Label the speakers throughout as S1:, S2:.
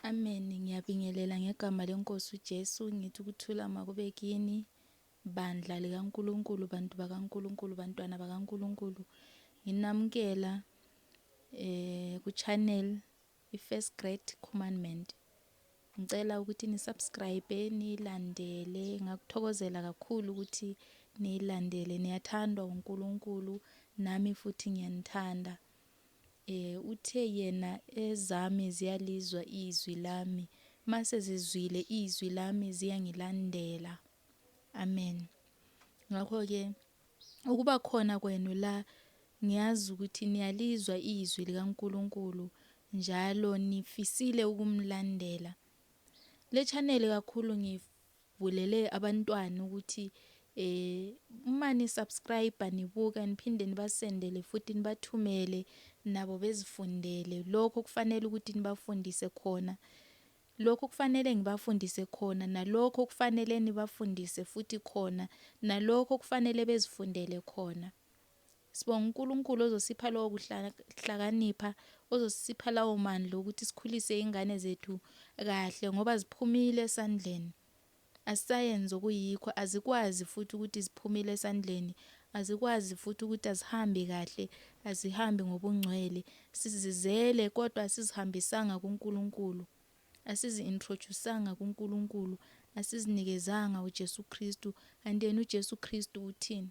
S1: Amen. Ngiyabingelela ngegama lenkosi uJesu ngithi ukuthula makube kini bandla likaNkuluNkulu bantu bakaNkuluNkulu bantwana bakaNkuluNkulu. Nginamukela eh ku channel i first great commandment. Ngicela ukuthi ni subscribe nilandele ngakuthokozela kakhulu ukuthi nilandele niyathandwa uNkuluNkulu nami futhi ngiyanithanda. Uthe yena ezami ziyalizwa izwi lami, mase zizwile izwi lami ziyangilandela. Amen. Ngakho ke ukuba khona kwenu la ngiyazi ukuthi niyalizwa izwi likaNkuluNkulu njalo nifisile ukumlandela. Le channel kakhulu ngif Ngibulele abantwana ukuthi eh uma ni subscribe nibuka niphinde nibasendele futhi nibathumele nabo bezifundele lokho kufanele ukuthi nibafundise khona lokho kufanele ngibafundise khona nalokho kufanele nibafundise futhi khona nalokho kufanele bezifundele khona Sibonga uNkulunkulu ozosipha lowo kuhlakanipha, ozosipha lawo mandla okuthi sikhulise ingane zethu kahle ngoba ziphumile esandleni. Asisayenzi okuyikho, azikwazi futhi ukuthi ziphumile esandleni, azikwazi futhi ukuthi azihambi kahle, azihambi ngobungcwele. Sizizele kodwa asizihambisanga kuNkulunkulu. Asizi-introduce-anga kuNkulunkulu, asizinikezanga uJesu Kristu. Kanti yena uJesu Kristu uthini?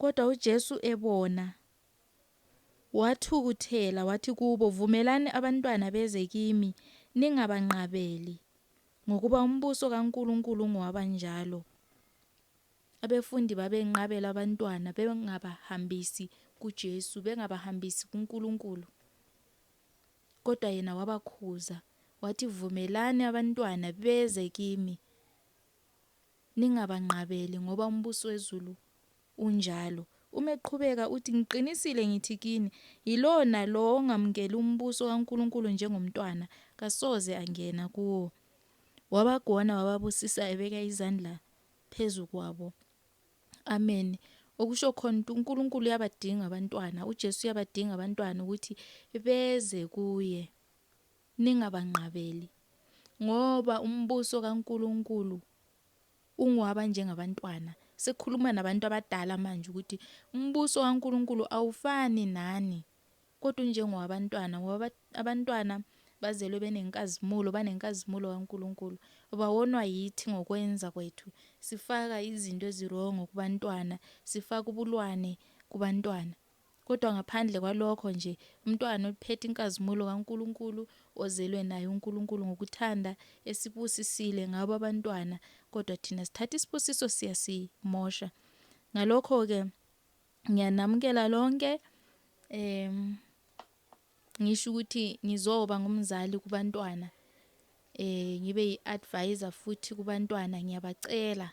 S1: Kodwa uJesu ebona, wathukuthela, wathi kubo, Vumelani abantwana beze kimi, ningabanqabeli, ngokuba umbuso kaNkulunkulu ungowabanjalo. Abefundi babenqabela abantwana, bengabahambisi kuJesu, bengabahambisi kuNkulunkulu. Kodwa yena wabakhuza, wathi, Vumelani abantwana beze kimi, Ningabanqabeli, ngoba umbuso wezulu unjalo. Uma eqhubeka, uthi, Ngiqinisile ngithi kini, yilowo nalowo ongamukeli umbuso kaNkulunkulu njengomntwana, kasoze angena kuwo. Wabagona wababusisa ebeka izandla phezu kwabo. Amen. Okusho khona ukuthi uNkulunkulu uyabadinga abantwana, uJesu uyabadinga abantwana ukuthi beze kuye. Ningabanqabeli, ngoba umbuso kaNkulunkulu ungowabanjengabantwana. Sekhuluma nabantu abadala manje ukuthi umbuso kaNkulunkulu awufani nani, kodwa unjengowabantwana, ngoba abantwana bazelwe benenkazimulo, banenkazimulo kaNkulunkulu. Bawonwa yithi ngokwenza kwethu, sifaka izinto ezirongo kubantwana, sifaka ubulwane kubantwana. Kodwa ngaphandle kwalokho nje, umntwana oliphethe inkazimulo kaNkulunkulu, ozelwe naye uNkulunkulu ngokuthanda, esibusisile ngabo abantwana, kodwa thina sithatha isibusiso siyasimosha. Ngalokho-ke, ngiyanamukela lonke, um, ngisho ukuthi ngizoba ngumzali kubantwana, um, ngibe yi-advisor futhi kubantwana, ngiyabacela.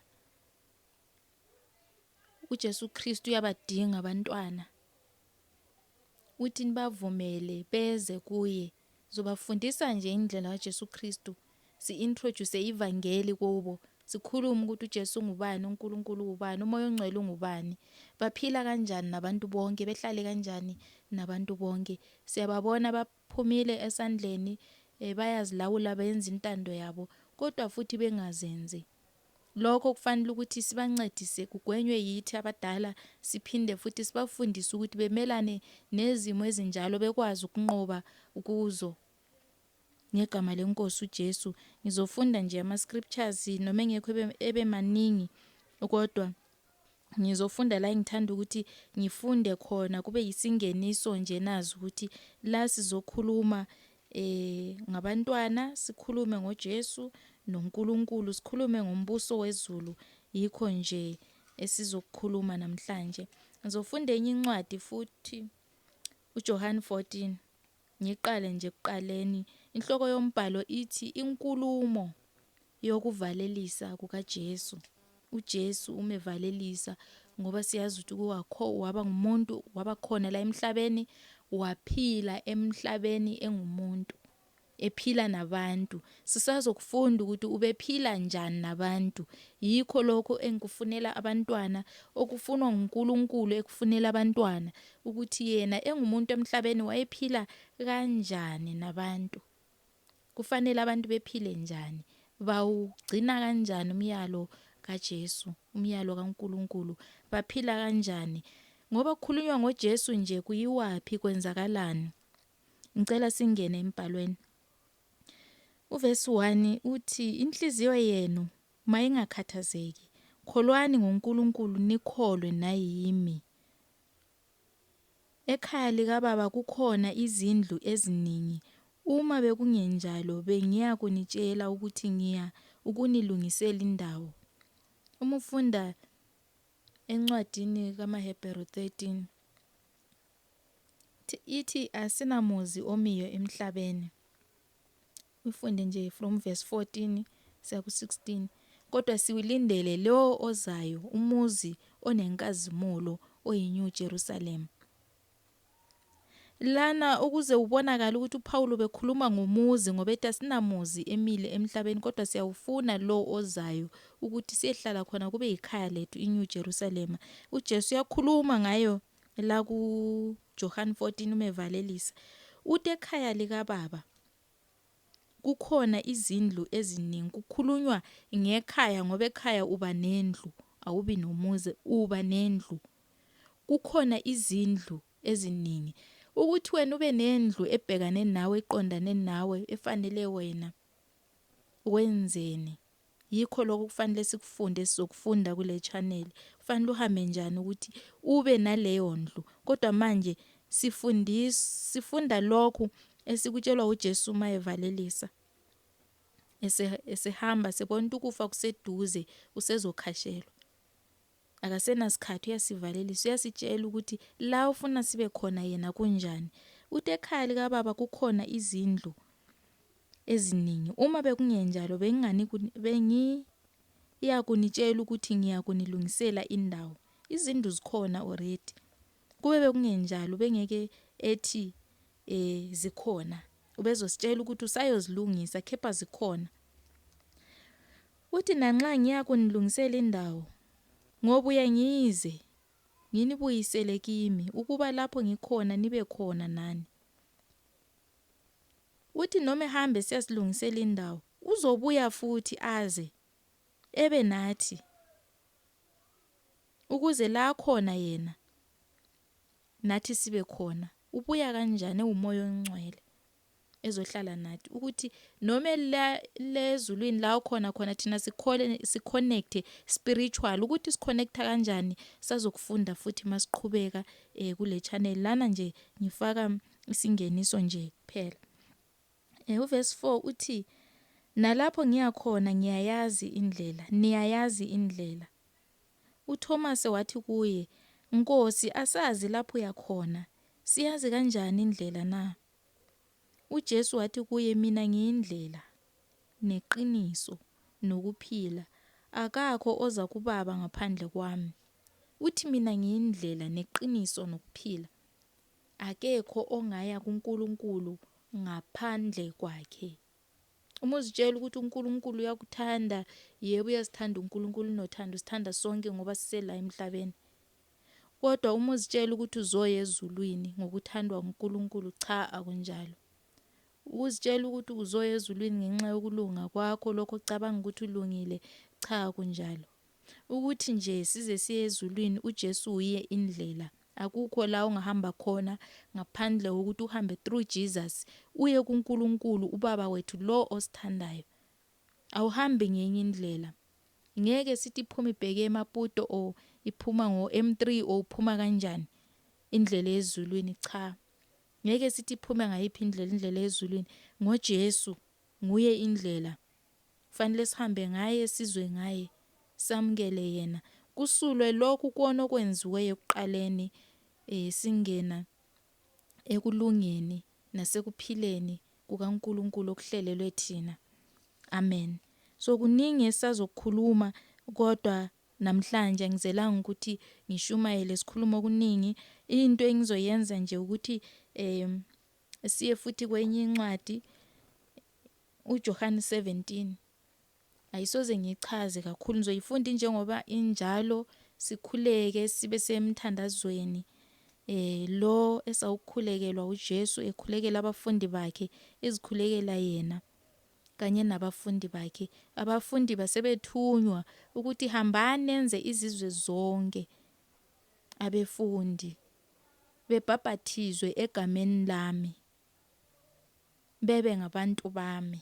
S1: uJesu Kristu uyabadinga abantwana uthi nibavumele beze kuye zobafundisa nje indlela kaJesu Kristu si-introduce ivangeli kubo sikhulume ukuthi uJesu ungubani uNkulunkulu ubani umoya ongcwele ungubani baphila kanjani nabantu bonke behlale kanjani nabantu bonke siyababona baphumile esandleni eh, bayazilawula benza intando yabo kodwa futhi bengazenzi Lokho kufanele ukuthi sibancedise kugwenywe yithi abadala siphinde futhi sibafundise ukuthi bemelane nezimo ezinjalo bekwazi ukunqoba kuzo. Ngegama lenkosi uJesu ngizofunda nje ama scriptures noma engekho ebe maningi kodwa ngizofunda la engithanda ukuthi ngifunde khona kube yisingeniso nje nazi ukuthi la sizokhuluma eh ngabantwana sikhulume ngoJesu noNkulunkulu sikhulume ngombuso wezulu yikho nje esizokukhuluma namhlanje ngizofunda enye incwadi futhi uJohane 14 Ngiqale nje ekuqaleni. Inhloko yombhalo ithi inkulumo yokuvalelisa kukaJesu. UJesu umevalelisa ngoba siyazi ukuthi kuwakho waba ngumuntu waba khona la emhlabeni waphila emhlabeni engumuntu ephila nabantu Sisazokufunda ukuthi ubephila njani nabantu. Yikho lokho engikufunela abantwana, okufunwa nguNkulunkulu ekufunela abantwana, ukuthi yena engumuntu emhlabeni wayephila kanjani nabantu. Kufanele abantu bephile njani? Bawugcina kanjani umyalo kaJesu, umyalo kaNkulunkulu? Baphila kanjani? Ngoba kukhulunywa ngoJesu nje kuyiwaphi kwenzakalani? Ngicela singene emibhalweni. Uvesi 1 uthi, Inhliziyo yenu mayingakhathazeki, kholwani ngoNkulunkulu nikholwe nayimi. Ekhaya likababa kukhona izindlu eziningi, uma bekungenjalo bengiya kunitshela ukuthi ngiya ukunilungisela indawo. Uma ufunda encwadini kamaHebheru 13, ithi asinamuzi omiyo emhlabeni ufunde nje from verse 14 siya ku-16 kodwa siwulindele lowo ozayo umuzi onenkazimulo oyiNew Jerusalem lana ukuze ubonakala ukuthi uPawulu bekhuluma ngomuzi ngoba ethi asinamuzi emile emhlabeni kodwa siyawufuna lo ozayo ukuthi siyehlala khona kube yikhaya lethu iNew Jerusalem uJesu uyakhuluma ngayo La kuJohane 14 uma evalelisa, uthi ekhaya likaBaba kukhona izindlu eziningi. Kukhulunywa ngekhaya ngoba ekhaya uba nendlu, awubi nomuzi, uba nendlu. Kukhona izindlu eziningi. Ukuthi wena ube nendlu ebhekane nawe, eqondane nawe, efanele wena, wenzeni? Yikho lokho okufanele sikufunde esizokufunda kule channel. Kufanele uhambe njani ukuthi ube naleyo ndlu. Kodwa manje sifundis sifunda lokhu esikutshelwa uJesu uma evalelisa. Ese esehamba sebona ukuthi ukufa kuseduze usezokhashelwa. Akasenasikhathi uyasivalelisa uyasitshela ukuthi la ufuna sibe khona yena kunjani. Uthi ekhaya likababa kukhona izindlu eziningi. Uma bekungenjalo bengingani bengi iyakunitshela ukuthi ngiyakunilungisela indawo. Izindlu zikhona already. Kube bekungenjalo bengeke ethi eh zikhona. Ubezositshela ukuthi usayozilungisa kepha zikhona. Uthi nanxa ngiya kunilungisela indawo, ngobuya ngize nginibuyisele kimi, ukuba lapho ngikhona nibe khona nani. Uthi noma ehamba esiyasilungisela indawo, uzobuya futhi aze ebe nathi, ukuze la akhona yena nathi sibe khona. Ubuya kanjani? Ewumoya ongcwele. ezohlala nathi ukuthi noma la lezulwini la ukhona khona thina sikhole siconnect spiritual ukuthi siconnect kanjani sazokufunda futhi masiqhubeka eh kule channel lana nje ngifaka isingeniso nje kuphela eh uverse 4 uthi nalapho ngiyakhona ngiyayazi indlela niyayazi indlela UThomase wathi kuye, Nkosi, asazi lapho uya khona, siyazi kanjani indlela na? UJesu wathi kuye, Mina ngiyindlela, neqiniso, nokuphila, akakho oza kuBaba ngaphandle kwami. Uthi mina ngiyindlela, neqiniso, nokuphila. Akekho ongaya kuNkulunkulu ngaphandle kwakhe. Uma uzitshela ukuthi uNkulunkulu uyakuthanda, yebo uyasithanda uNkulunkulu unothando, usithanda sonke ngoba sisela emhlabeni. Kodwa uma uzitshela ukuthi uzoya ezulwini ngokuthandwa uNkulunkulu, cha akunjalo. Ukuzitshela ukuthi uzoya ezulwini ngenxa yokulunga kwakho, lokho ocabanga ukuthi ulungile, cha akunjalo. Ukuthi nje size siye ezulwini uJesu uye indlela Akukho la ongahamba khona ngaphandle kokuthi uhambe through Jesus uye kuNkulunkulu uBaba wethu lo osithandayo. Awuhambi ngenye indlela. Ngeke sithi iphuma ibheke eMaputo or iphuma ngo M3 or uphuma kanjani indlela ezulwini cha. Ngeke sithi iphume ngayiphi indlela indlela ezulwini ngoJesu nguye indlela. Kufanele sihambe ngaye, sizwe ngaye, samukele yena. Kusulwe lokhu kuona okwenziwe ekuqaleni eh singena ekulungeni nasekuphileni kukaNkulunkulu okuhlelelwe thina. Amen. So kuningi esazokukhuluma kodwa namhlanje ngizelanga ukuthi ngishumayele sikhuluma okuningi into engizoyenza nje ukuthi eh siye futhi kwenye incwadi UJohane 17. Ayisoze ngiyichaze kakhulu, ngizoyifunda injengoba injalo, sikhuleke sibe semthandazweni eh lo esawukhulekelwa uJesu ekhulekela abafundi bakhe ezikhulekela yena kanye nabafundi bakhe abafundi basebethunywa ukuthi hambani nenze izizwe zonke abefundi bebhabhathizwe egameni lami Bebe ngabantu bami.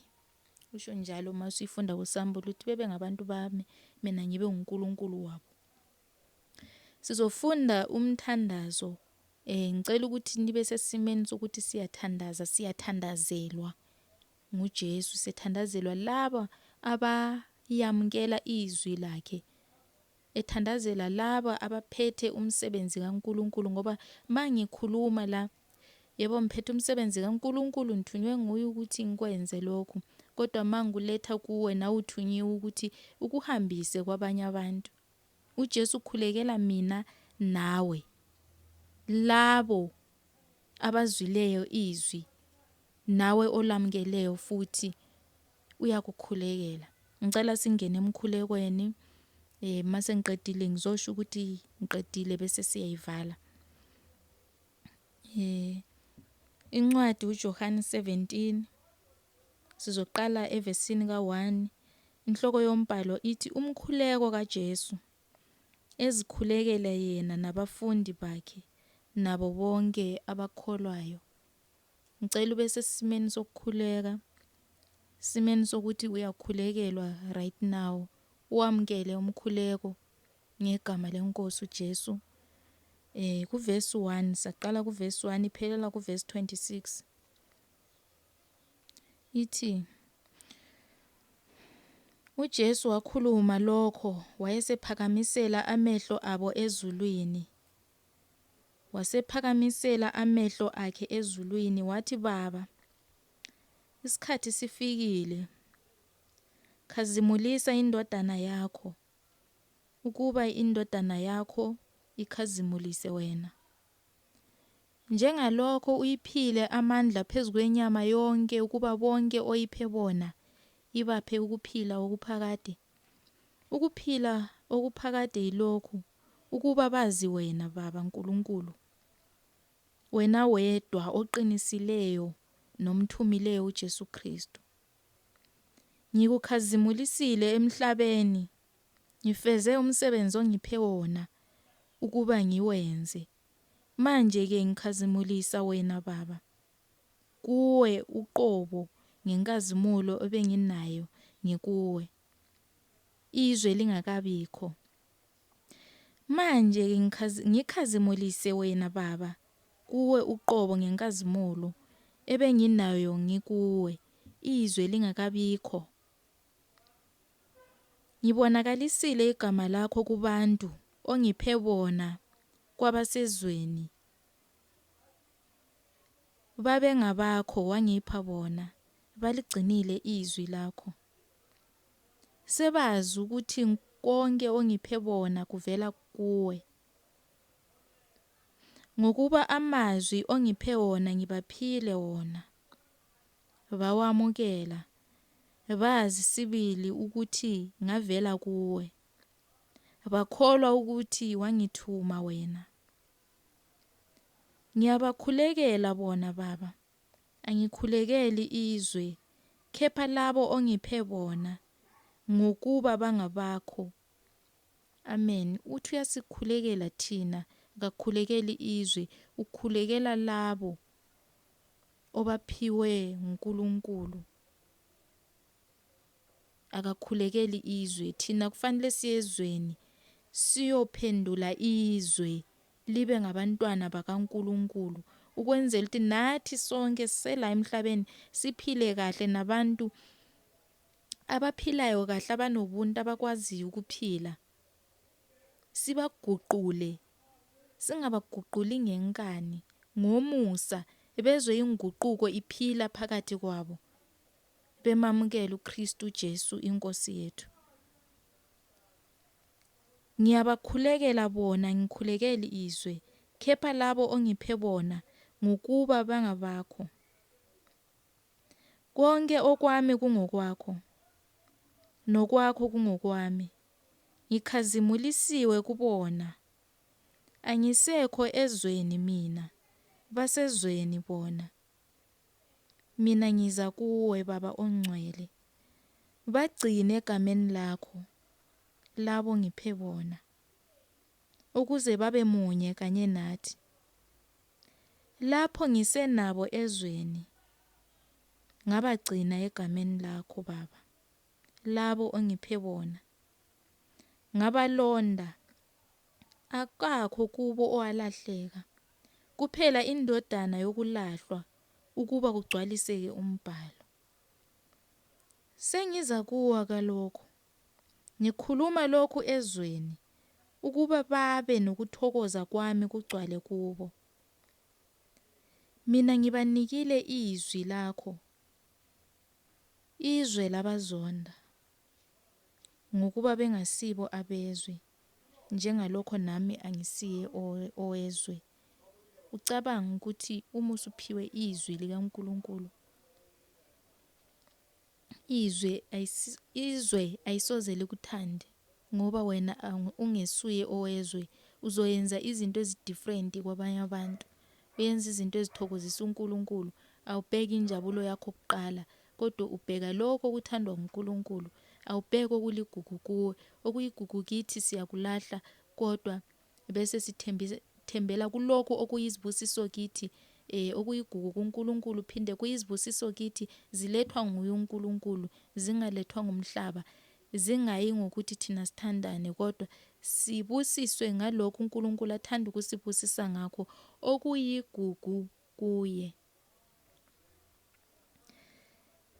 S1: Usho njalo uma usuyifunda kuSambulo ukuthi bebe ngabantu bami, mina ngibe uNkulunkulu wabo. Sizofunda umthandazo. Eh ngicela ukuthi nibe sesimeni sokuthi siyathandaza, siyathandazelwa nguJesu, siyathandazelwa laba abayamukela izwi lakhe. ethandazela laba abaphethe umsebenzi kaNkulunkulu ngoba mangikhuluma la yebo ngiphethe umsebenzi kaNkulunkulu ngithunywe nguye ukuthi ngikwenze lokhu kodwa manguletha kuwe nawe uthunyiwe ukuthi ukuhambise kwabanye abantu uJesu ukhulekela mina nawe labo abazwileyo izwi nawe olamukeleyo futhi uyakukhulekela. Ngicela singene emkhulekweni eh mase ngiqedile ngizosho ukuthi ngiqedile bese siyayivala. Eh incwadi uJohane 17 sizoqala evesini ka1 inhloko yombhalo ithi umkhuleko kaJesu ezikhulekela yena nabafundi bakhe nabo bonke abakholwayo. Ngicela ube sesimeni sokukhuleka. Simeni sokuthi uyakhulekelwa right now. Uwamkele umkhuleko ngegama lenkosi uJesu. Eh kuverse 1 saqala kuverse 1 iphelela kuverse 26. Ithi uJesu wakhuluma lokho wayesephakamisela amehlo abo ezulwini. Wasephakamisela amehlo akhe ezulwini wathi, Baba, isikhathi sifikile. Khazimulisa indodana yakho, ukuba indodana yakho ikhazimulise wena. Njengalokho uyiphile amandla phezu kwenyama yonke ukuba bonke oyiphe bona ibaphe ukuphila okuphakade, Ukuphila okuphakade yilokhu, ukuba bazi Wena, Baba Nkulunkulu, Wena wedwa oqinisileyo nomthumileyo uJesu Kristu. Ngikukhazimulisile emhlabeni, ngifeze umsebenzi ongiphe wona ukuba ngiwenze. Manje-ke ngikhazimulisa Wena, Baba. kuwe uqobo ngenkazimulo ebenginayo ngikuwe izwe lingakabikho. Manje ngikhazimulise wena Baba kuwe uqobo ngenkazimulo ebenginayo ngikuwe izwe lingakabikho. Ngibonakalisile igama lakho kubantu ongiphe bona kwabasezweni. babengabakho wangipha bona, baligcinile izwi lakho. Sebazi ukuthi konke ongiphe bona kuvela kuwe. Ngokuba amazwi ongiphe wona ngibaphile wona. Bawamukela, bazi sibili ukuthi ngavela kuwe. Bakholwa ukuthi wangithuma wena. Ngiyabakhulekela bona, Baba. Angikhulekeli izwe, kepha labo ongiphe bona, ngokuba bangabakho. Amen. Uthi uyasikhulekela thina, akakhulekeli izwe, ukhulekela labo obaphiwe nguNkulunkulu. akakhulekeli izwe thina kufanele siye ezweni siyophendula izwe libe ngabantwana bakaNkuluNkulu ukwenzela ukuthi nathi sonke sisela emhlabeni siphile kahle nabantu abaphilayo kahle abanobuntu abakwaziyo ukuphila sibaguqule singabaguquli ngenkani ngomusa bezwe inguquko iphila phakathi kwabo bemamukela uKristu Jesu iNkosi yethu. Ngiyabakhulekela bona ngikhulekeli izwe, kepha labo ongiphe bona ngokuba bangabakho. Konke okwami kungokwakho, nokwakho kungokwami. Ngikhazimulisiwe kubona. Angisekho ezweni mina, basezweni bona. Mina ngiza kuwe, Baba Ongcwele, bagcine egameni lakho labo ngiphe bona, ukuze babe munye kanye nathi. Lapho ngisenabo ezweni, ngabagcina egameni lakho, Baba, labo ongiphe bona. Ngabalonda Akakho kubo owalahleka, kuphela indodana yokulahlwa, ukuba kugcwaliseke umbhalo. Sengiza kuwa kalokho, ngikhuluma lokhu ezweni, ukuba babe nokuthokoza kwami kugcwale kubo. Mina ngibanikile izwi lakho, izwe labazonda. Ngokuba bengasibo abezwe, njengalokho nami angisiye owezwe. Ucabanga ukuthi uma usuphiwe izwi likaNkulunkulu, izwe izwe ayisoze likuthande ngoba wena ungesuye owezwe uzoyenza izinto ezidifferent kwabanye abantu uyenza izinto ezithokozisa uNkulunkulu awubheki injabulo yakho kuqala Kodwa ubheka lokho okuthandwa nguNkulunkulu, awubheki okuligugu kuwe. Okuyigugu kithi siyakulahla kodwa bese sithembela kulokho okuyizibusiso kithi. Eh, okuyigugu kuNkulunkulu phinde kuyizibusiso kithi, zilethwa nguye uNkulunkulu, zingalethwa ngumhlaba. Zingayi ngokuthi thina sithandani, kodwa sibusiswe ngalokho uNkulunkulu athanda ukusibusisa ngakho, okuyigugu kuye.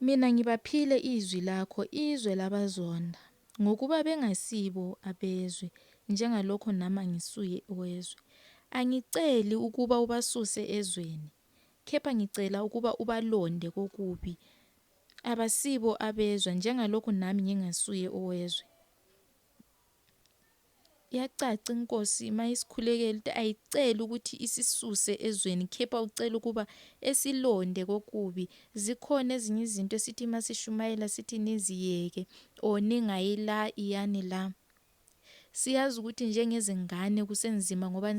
S1: Mina ngibaphile izwi lakho, izwe labazonda, ngokuba bengasibo abezwe, njengalokho nami angisuye owezwe. Angiceli ukuba ubasuse ezweni, kepha ngicela ukuba ubalonde kokubi. Abasibo abezwe, njengalokho nami ngingasuye owezwe. Kuyacaca inkosi uma isikhulekela ukuthi ayiceli ukuthi isisuse ezweni khepha ucela ukuba esilonde kokubi. Zikhona ezinye izinto esithi uma sishumayela sithi niziyeke or ningayi la iyani la. Siyazi ukuthi njengezingane kusenzima ngoba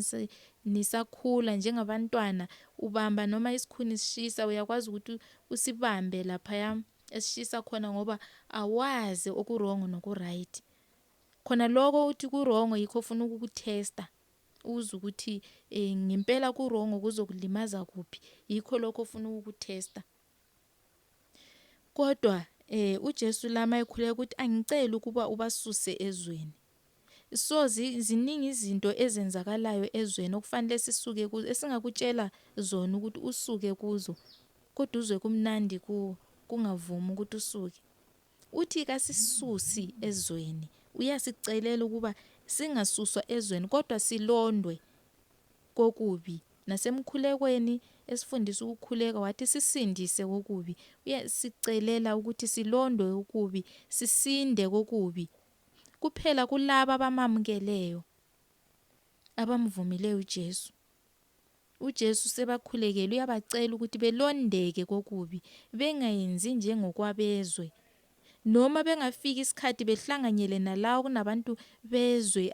S1: nisakhula njengabantwana ubamba noma isikhuni sishisa uyakwazi ukuthi usibambe laphaya esishisa khona ngoba awazi okuwrong nokuright. Khona lokho uthi kurongo yikho ufuna ukukuthesta uze ukuthi eh, ngempela kurongo kuzokulimaza kuphi yikho lokho ufuna ukukuthesta kodwa eh uJesu lama ekhuleka ukuthi angicela ukuba ubasuse ezweni so ziningi izinto ezenzakalayo ezweni okufanele sisuke kuzo esingakutshela zona ukuthi usuke kuzo kodwa uzwe kumnandi kuwo kungavumi ukuthi usuke Uthi kasisusi ezweni, uyasicelela ukuba singasuswa ezweni kodwa silondwe kokubi. Nasemkhulekweni esifundisa ukukhuleka wathi sisindise kokubi. Uyasicelela ukuthi silondwe kokubi, sisinde kokubi. Kuphela kulabo abamamukeleyo, abamvumileyo uJesu. UJesu usebakhulekele, uyabacela ukuthi belondeke kokubi, bengayenzi njengokwabezwe, noma bengafika isikhathi behlanganyele nalawo kunabantu bezwe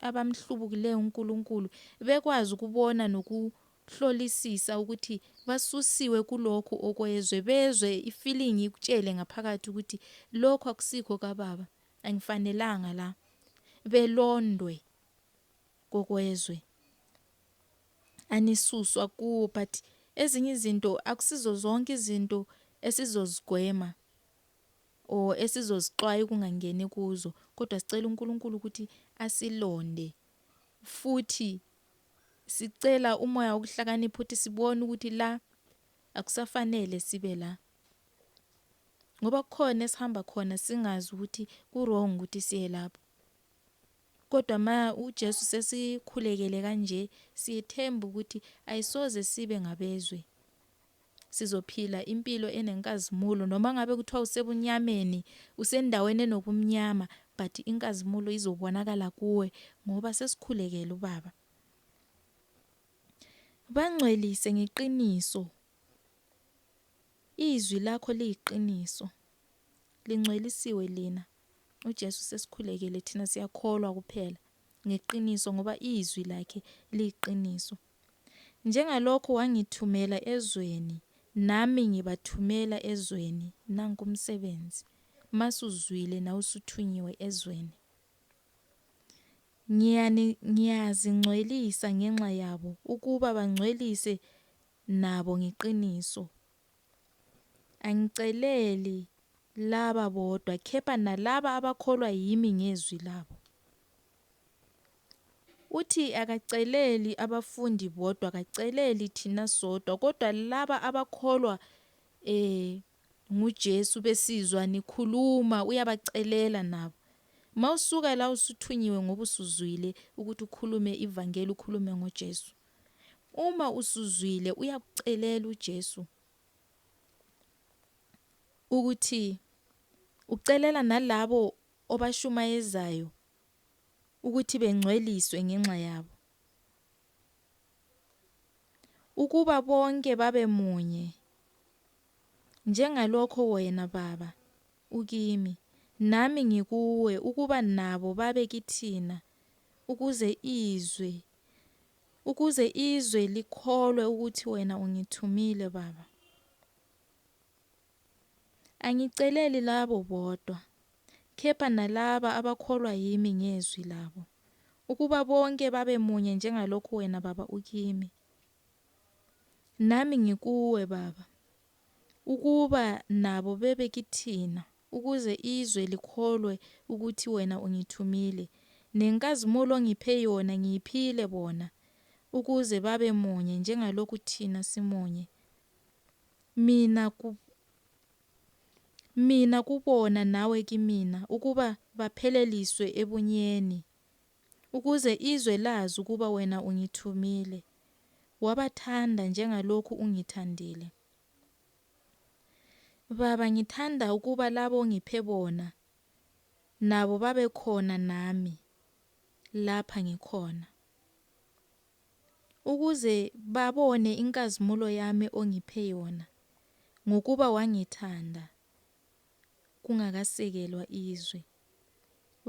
S1: abamhlubukileyo uNkulunkulu, bekwazi ukubona nokuhlolisisa ukuthi basusiwe kulokhu okwezwe, bezwe ifilingi ikutshele ngaphakathi ukuthi lokhu akusikho kaBaba, angifanelanga la, belondwe. kokwezwe anisuswa kuwo but ezinye izinto akusizo zonke izinto esizozigwema or esizozixwaye kungangeni kuzo kodwa sicela uNkulunkulu ukuthi asilonde futhi sicela umoya wokuhlakanipha ukuthi sibone ukuthi la akusafanele sibe la ngoba kukhona esihamba khona singazi ukuthi ku wrong ukuthi siye lapho Kodwa ma uJesu sesikhulekele kanje siyethemba ukuthi ayisoze sibe ngabezwe. Sizophila impilo enenkazimulo noma ngabe kuthiwa usebunyameni, usendaweni enobumnyama but inkazimulo izobonakala kuwe ngoba sesikhulekele uBaba. Bangcwelise ngeqiniso. Izwi lakho liyiqiniso. Lingcwelisiwe lina. UJesu sesikhulekele thina siyakholwa kuphela ngeqiniso ngoba izwi lakhe liyiqiniso. Njengalokhu wangithumela ezweni nami ngibathumela ezweni nanku umsebenzi masuzwile nawusuthunyiwe ezweni. Ngiyani ngiyazingcwelisa ngenxa yabo ukuba bangcwelise nabo ngeqiniso. Angiceleli laba bodwa kepha nalaba abakholwa yimi ngezwi labo. Uthi akaceleli abafundi bodwa, akaceleli thina sodwa kodwa laba abakholwa eh nguJesu besizwa nikhuluma uyabacelela nabo. Mawusuka la usuthunyiwe ngoba usuzwile ukuthi ukhulume ivangeli ukhulume ngoJesu. Uma usuzwile uyakucelela uJesu ukuthi ucelela nalabo obashumayezayo ukuthi bengcweliswe ngenxa yabo. Ukuba bonke babe munye njengalokho wena baba ukimi nami ngikuwe ukuba nabo babe kithina ukuze izwe ukuze izwe likholwe ukuthi wena ungithumile baba angiceleli labo bodwa kepha nalaba abakholwa yimi ngezwi labo ukuba bonke babe munye njengalokhu wena baba ukimi nami ngikuwe baba ukuba nabo bebe kithina ukuze izwe likholwe ukuthi wena ungithumile, nenkazimulo ongiphe yona ngiyiphile bona, ukuze babe munye njengalokhu thina simunye, mina ku, mina kubona nawe kimina, ukuba bapheleliswe ebunyeni, ukuze izwe lazi ukuba wena ungithumile, wabathanda njengalokhu ungithandile. Baba, ngithanda ukuba labo ongiphe bona, nabo babe khona nami lapha ngikhona, ukuze babone inkazimulo yami ongiphe yona, ngokuba wangithanda kungakasekelwa izwe.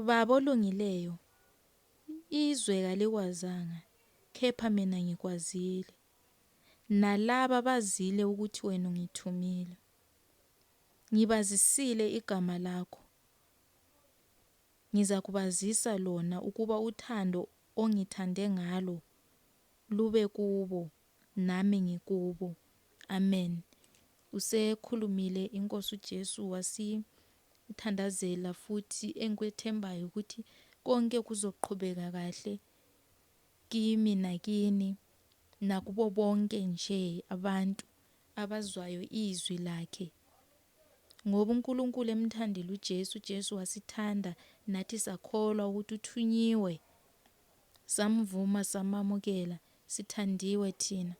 S1: Baba olungileyo, izwe kalikwazanga, kepha mina ngikwazile. nalaba bazile ukuthi wena ungithumile. Ngibazisile igama lakho. Ngizakubazisa lona ukuba uthando ongithande ngalo lube kubo nami ngikubo. Amen. Usekhulumile inkosi uJesu wasi uthandazela futhi engikwethembayo ukuthi konke kuzoqhubeka kahle Kimi nakini, nakubo bonke nje abantu abazwayo iZwi laKhe. Ngoba uNkulunkulu emthandile uJesu, uJesu wasithanda, nathi sakholwa ukuthi uthunyiwe, samvuma, samamukela, sithandiwe thina.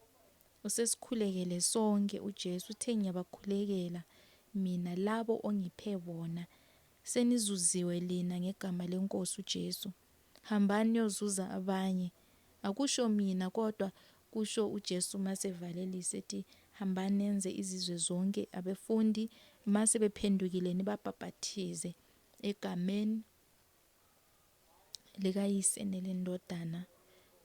S1: Usesikhulekele sonke uJesu, uthe, Ngiyabakhulekela Mina labo ongiphe bona. Senizuziwe lina ngegama leNkosi uJesu. Hambani niyozuza abanye. Akusho mina kodwa kusho uJesu mase evalelisa ethi hambani nenze izizwe zonke abefundi mase bephendukile nibabhabhathize egameni likaYise nelendodana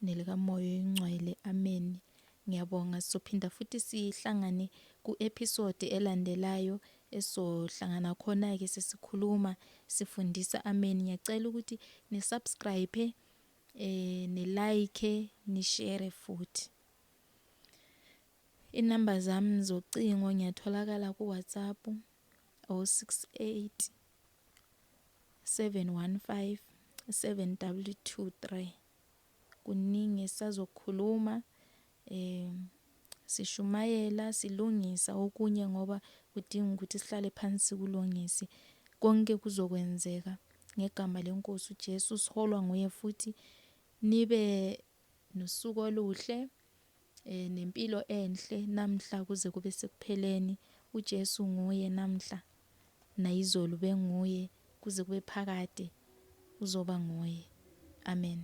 S1: nelikaMoya oyingcwele. Ameni. Ngiyabonga sizophinda futhi sihlangane ku episode elandelayo esizohlangana khona ke sesikhuluma sifundisa amen ngiyacela ukuthi ni subscribe eh ni like ni share futhi inamba zami zocingo ngiyatholakala ku WhatsApp 068 715 7223 kuningi esisazokukhuluma um sishumayela silungisa okunye ngoba kudinga ukuthi sihlale phansi sikulungise konke kuzokwenzeka ngegama lenkosi uJesu siholwa nguye futhi nibe nosuku oluhle eh, nempilo enhle namhla kuze kube sekupheleni uJesu nguye namhla nayizolo benguye kuze kube phakade uzoba nguye amen